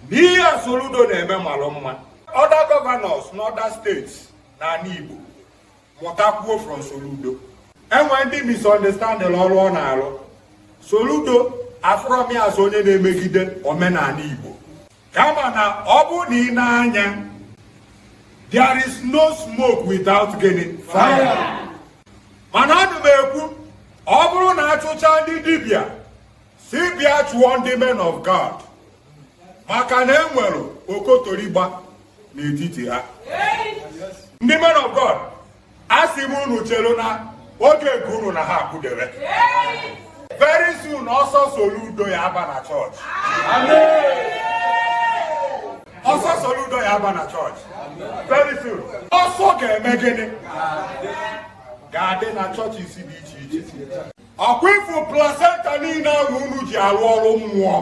n'ihe a Soludo na-eme malụ mma other governors n'other states n'ala Igbo mụtakwuo from Soludo e nwee ndị misunderstanding ọrụ ọ na-alụ Soludo afụrọ m ya as onye na-emegide omenala Igbo kama na ọ bụ na ị na-anya there is no smoke without gịnị fire mana ana m ekwu ọ bụrụ na a chụcha ndị dibịa si bịa chụọ ndị men of God maka na e nwere okotorigba n'etiti ha ndị men of God asị m unu chelu na oge nke unu na ha akụdebe very soon ọsọ Soludo ya-aba na chọọchị ọsọ Soludo ya-aba na chọọchị very soon ọsọ ga-eme gịnị ga-adị na churches dị iche iche ọkwa ị fụ placenta niile ahụ unu ji arụ ọrụ mmụọ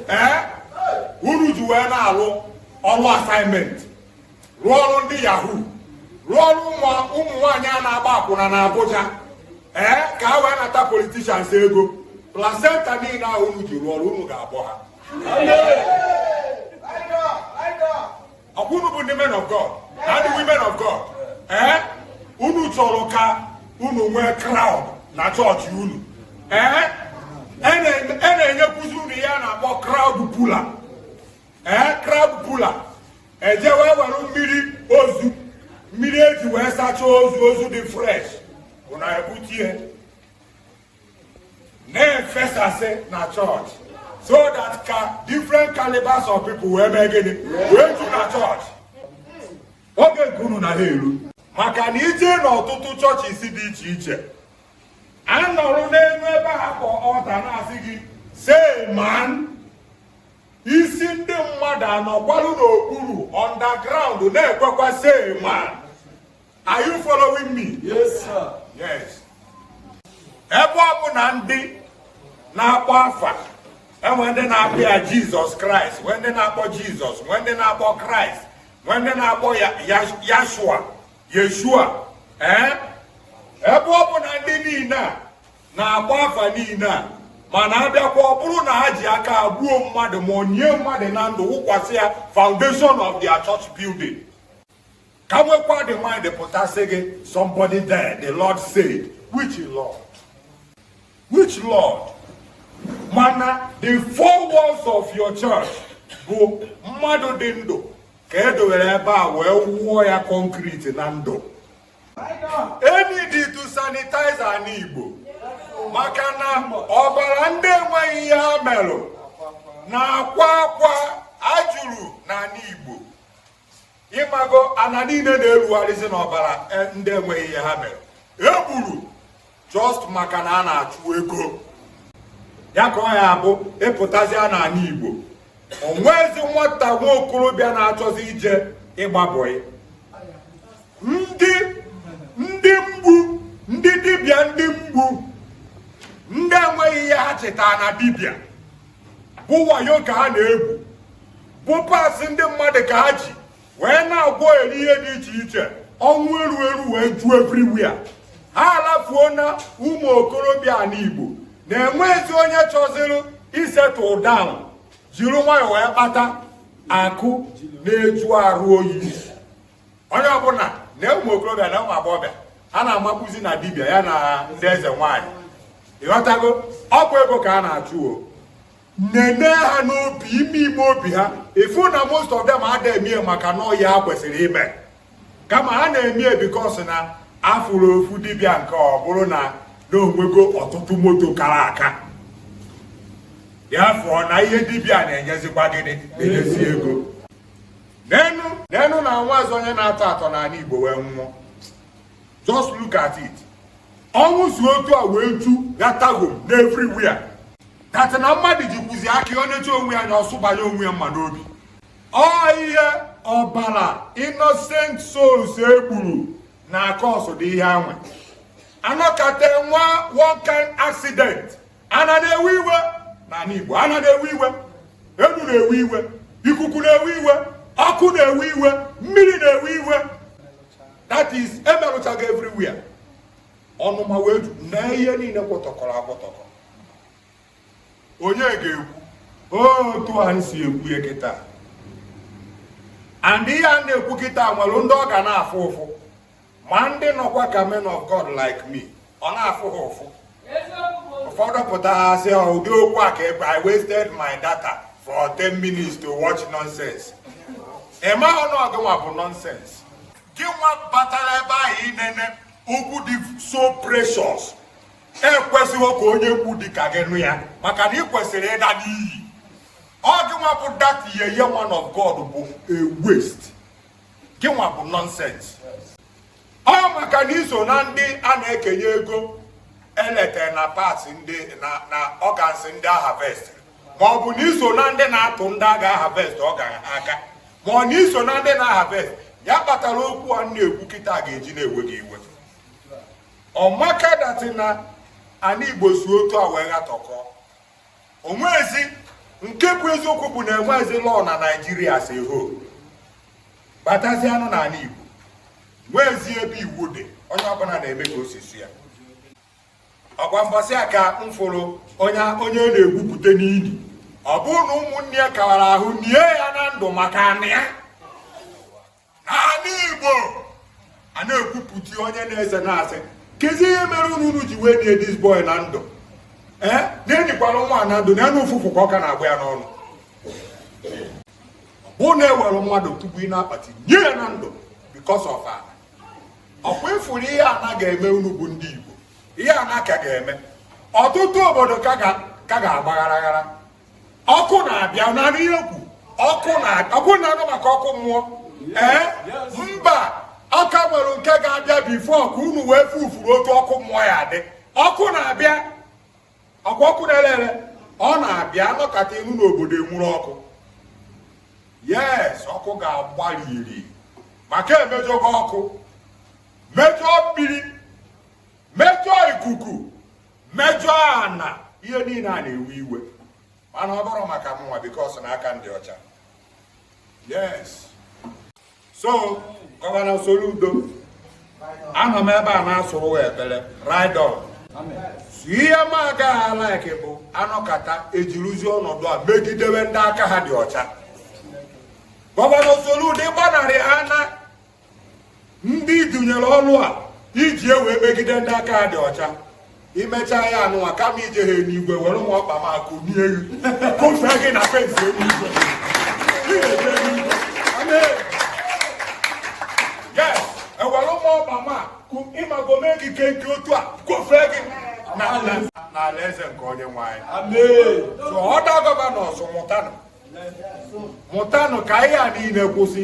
ee unu ji wee na-alụ ọrụ assignment rụọ ọrụ ndị yahoo rụọ ọrụ ụmụ nwaanyị a na-agba akwụna na Abuja ee ka ha wee nata politicians ego placenta niile ahụ unu ji rụọ ọrụ unu ga-abọ ha ọkwa unu bụ ndị men of God na ndị women of God ee eh? unu chọrọ ka unu nwee crowd na chọọchị unu ee eh? e, e na-enyekwuzi unu ihe a na-akpọ crowd puller ee eh? crowd puller e je wee were mmiri ozu mmiri e ji wee sachaa ozu ozu dị fresh unu ebute ya na-efesasị na chọọchị so that ka different calibers of people wee mee gịnị wee ju na chọọchị oge nke unu na ha eru maka na i je n'ọtụtụ churches dị iche iche a nọrụ n'elu ebe ha kpọ altar na-asị gị say amen isi ndị mmadụ anọkwarụ n'okpuru underground na-ekwekwa say amen Are you following me? Yes, sir. Yes. Ebe ọ bụ na ndị na-akpọ afa e nwe ndị na-akpọ ya Jesus Christ, nwee ndị na-akpọ Jesus, nwee ndị na-akpọ Christ, nwee ndị na-akpọ Yashua, Yeshua. Eh? Ebe ọ bụ na ndị niile a na-akpọ afa niile a mana a bịakwa ọ bụrụ na ha ji aka ha gbuo mmadụ maọbụ nie mmadụ na ndụ wụkwasị ya foundation of their church building ka nwekwa the mind pụta sị gị somebody there the lord said which lord which lord mana the four walls of your church bụ mmadụ dị ndụ ka e dowere ebe a wee wụọ ya concrete na ndụ e need to sanitize ana igbo maka na ọbara ndị enweghị ihe ha merụ na-akwa akwa juru na ana igbo ị mago ana niile na-erugharịzi n'ọbara ndị enweghị ihe ha mere e gburu just maka na a na-achụ ego ya ka ọ ya-abụ ị pụtazịa n'ana Igbo o nwezi nwata nwa okorobịa na-achọzi ije ịgba bọị ndị ndị mgbu ndị dibịa ndị mgbu ndị enweghị ihe ha chịtara na dibịa bụ wayo ka ha na-egwu bụ parts ndị mmadụ ka ha ji wee na-agwọ eri ihe dị iche iche ọnwụ eru eru wee ju everywhere ha alafuona ụmụ okorobịa ana igbo na enwezi onye chọziri isettle down jiri nwayọọ wee kpata akụ na-ajụ arụ oyi onye ọbụla na ụmụ okorobịa na ụmụ agbọghọbịa ha na-amakwuzi na dibịa ya na ndị eze nwaanyị ị ghọtago ọ bụ ego ka a na-achụ o nene ha n'obi ime ime obi ha ị fụ na most of them ada emie maka na ọ ya ha kwesịrị ime kama ha na-emie because na a fụrụ ofu dibịa nke ọ bụrụ na o nwego ọtụtụ moto kara aka ya fụọ na ihe dibịa na-enyezikwa gịnị na-enyezi ego nenụ na enwezi onye na-atọ atọ n'ana igbo wee nwụọ just look at it ọnwụ si otu a wee ju ya tago n'everywhere that na mmadụ jikwuzi aka ọ na-eche onwe ya na-asụbanye onwe ya mma n'obi ọ ihe ọbara innocent souls e gburu na-acause ụdị ihe anwa a nọkata nwee one kind accident ana na-ewe iwe n'ana Igbo ana na-ewe iwe enu na-ewe iwe ikuku na-ewe iwe ọkụ na-ewe iwe mmiri na-ewe iwe that is emerụchago everywhere ọnụma wee ju na ihe niile kwọtọkọrọ akwọtọkọ onye ga-ekwu otu anyị si ekwu ya kịta and ihe a na-ekwu kịta nwere ndị ọ ga na-afụ ụfụ ma ndị nọkwa ka men of God like me ọ na-afụ ha ụfụ ụfọdụ pụta ha sị ha ụdị okwu a ka ebe I wasted my data for 10 minutes to watch nonsense ị marọ na ọ gị nwa bụ nonsense gị nwa batara ebe ahụ inene okwu dị so precious ekwesịghị ka onye mgbu dị ka gị nụ ya maka na ị kwesịrị ịla n'iyi ọ gị nwa bụ that yeye man of God bụ a waste gịnwa bụ nonsense ọ maka na i so na ndị a na-ekenye ego elete na parts ndị na organs ndị a harvest ma ọ bụ na i so na ndị na-atụ ndị a ga-aharvest ọ gara aka ma ọ na i so na ndị na-aharvest ya kpatara okwu a na-ekwu kịta ga-eji na-ewe gị iwe ọ maka that na ana igbo si otu a wee ghatọkọ o nwezi nke bụ eziokwu bụ na e nwezi law na Nigeria si ho batazi anụ n'ana Igbo nwezi ebe iwu dị onye ọbụla na-eme ka o si sọ ya ọ kwa mbọsị a ka m fụrụ onye na-egwupụta n'ili ọ bụrụ na ụmụnne ya kawara ahụ nie ya na ndụ maka anị ya n'ana Igbo a na-egwupụta onye na-ese na-asị kezi ihe mere unu ji wee nie this boy na ndụ ee eh? na e nikwara nwa na ndụ na enu ụfụfụ ka ọ ka na-agba ya n'ọnụ bụ na e were mmadụ tupu ị n'akpati nie ya na ndụ because of ana ọ kwa ị fụrụ ihe ana ga-eme unu bụ ndị Igbo ihe ana ka ga-eme ọtụtụ obodo ka ga-agbagharaghara ọkụ na-abịa na ihe ekwu ọkụ na-anụ maka ọkụ mmụọ ee mba a ka nwere nke ga-abịa before ka unu wee fufuru otu ọkụ mmụọ ya dị ọkụ na-abịa ọkụ na-ele ele ọ na-abịa nọkata ị nụ na obodo enwuru ọkụ yes ọkụ ga-agbarịrị maka e mejọgo ọkụ mejọọ mmiri mejọọ ikuku mejọọ ana ihe niile a na-ewe iwe mana ọ bụrọ maka mụnwa because na aka m dị ọcha yes so gọvanọ Soludo anọ m ebe a na-asụrụ ekpere ride on sir ihe m agaghị alike bụ a nọkata e jiruzi ọnọdụ a megidewe ndị aka ha dị ọcha gọvanọ Soludo ịgbanarị ha na ndị dunyere ọrụ a iji wee megide ndị aka ha dị ọcha i mecha ya anụnwa kama ije ha eluigwe were nwa ọkpa ma kụnie elu kụfee gị na fence eluigwe yes e were nwa ọkpa ma ị mago mee gị nke otu a kụfee gị n'alaeze nke onye nwe anyị so other governors mụtanụ ka ihe a niile kwụsị